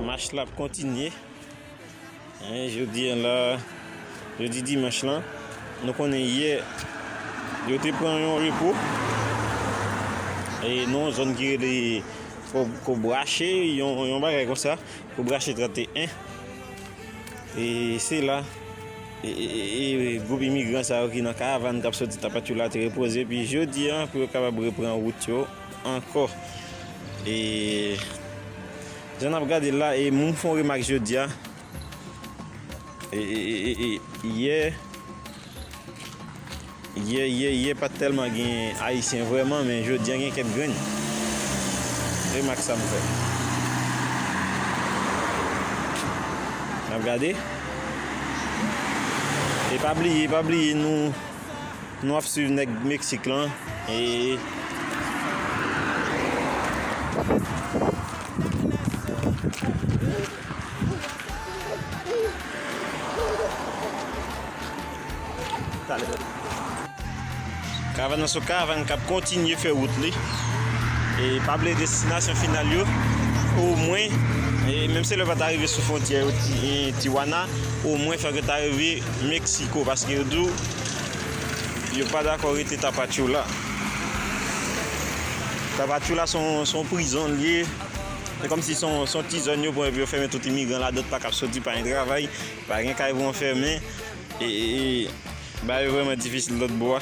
Mach la ap kontinye. Jodi an la, jodi dimanch lan, nou konnen yè, yo te pran yon repo. E nou an zon ki rele Kobrache, yon bagay kon sa, Kobrache 31. E se la, goup imigran sa yo ki nan karavan kap soti Tapachula te repoze. Pi jodi an, pou yo kapab repran wout yo. Ankò e jan nap gade l la e moun fon remak jodia e yè yè yè yè pat tèlman gen ayisyen vrèman men jodia gen kèk grenn remak sa m fè nap gade e pa bliye pa bliye nou. Nou ap swiv nèg Meksik lan e. Karavan nan son karavan kap kontinye fè wout li e pa bliye destinasyon final yo omwen menm si yo pata rive sou fwontyè Tijuana omwen fòk yo ta rive. Mexico paske yo diw yo pa dakò rete tapachula tapachula son prizon liye se kòmsi son ti zòn yo pran epi yo fèmen tout imigran ladan pa kap soti pa gen travay pa gen kay pou anfèmen e bagay yo vrèman difisil lòtbò a.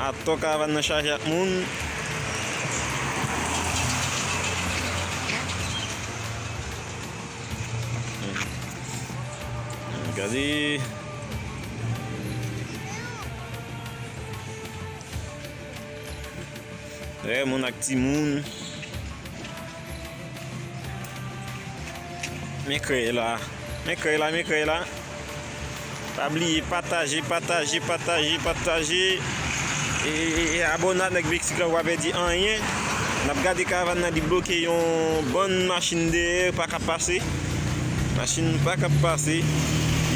Atò karavan nan chaje ak moun. Gade. Moun ak ti moun. Men krèy la Men krèy la Men krèy la Pa bliye pataje pataje pataje pataje E abone a nèg meksik la ou pa pèdi anyen Nap gade karavan nan li bloke yon bann machin dèyè yo paka pase Machin yo paka pase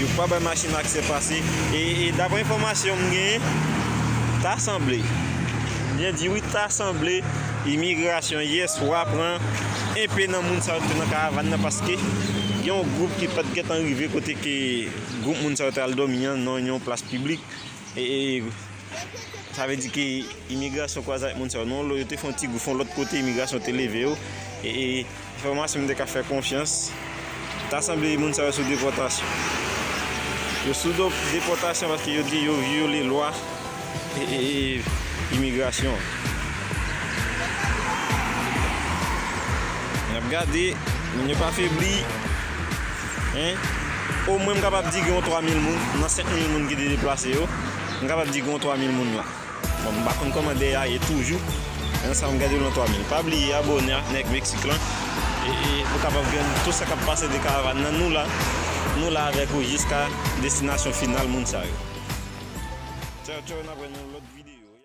Yo pa bay machin aksè pase E daprè enfòmasyon m genyen Ta sanble Byen di wi ta sanble Imigrasyon yè swa pran enpe nan moun sa yo ki te nan karavan nan paske gen yon gwoup ki pat gentan rive kote ke gwoup moun sa yo te al dòmi an nan yon plas piblik e sa vle di ke imigrasyon kwaze ak moun sa yo nan yon lòt kote imigrasyon te leve yo e Enfòmasyon m te ka fè konfyans, ta sanble moun sa yo sou depòtasyon. Yo sou depòtasyon paske yo di yo vyole lwa imigrasyon an. N ap gade, moun yo pa febli. Omwen m kapab di gen yon 3 mil moun nan 5 mil moun ki te deplase yo, m kapab di gen yon 3 mil moun la. Bon m pa konn kòman dèy a ye toujou men sa m gade lan 3000 pa bliye abòne ak nèg meksik lan pou kapab jwenn tout sa kap pase de karavan nan nou la nou la avèk ou jiska destinasyon final moun sa yo. Tchao tchao n ap wè nan lòt videyo.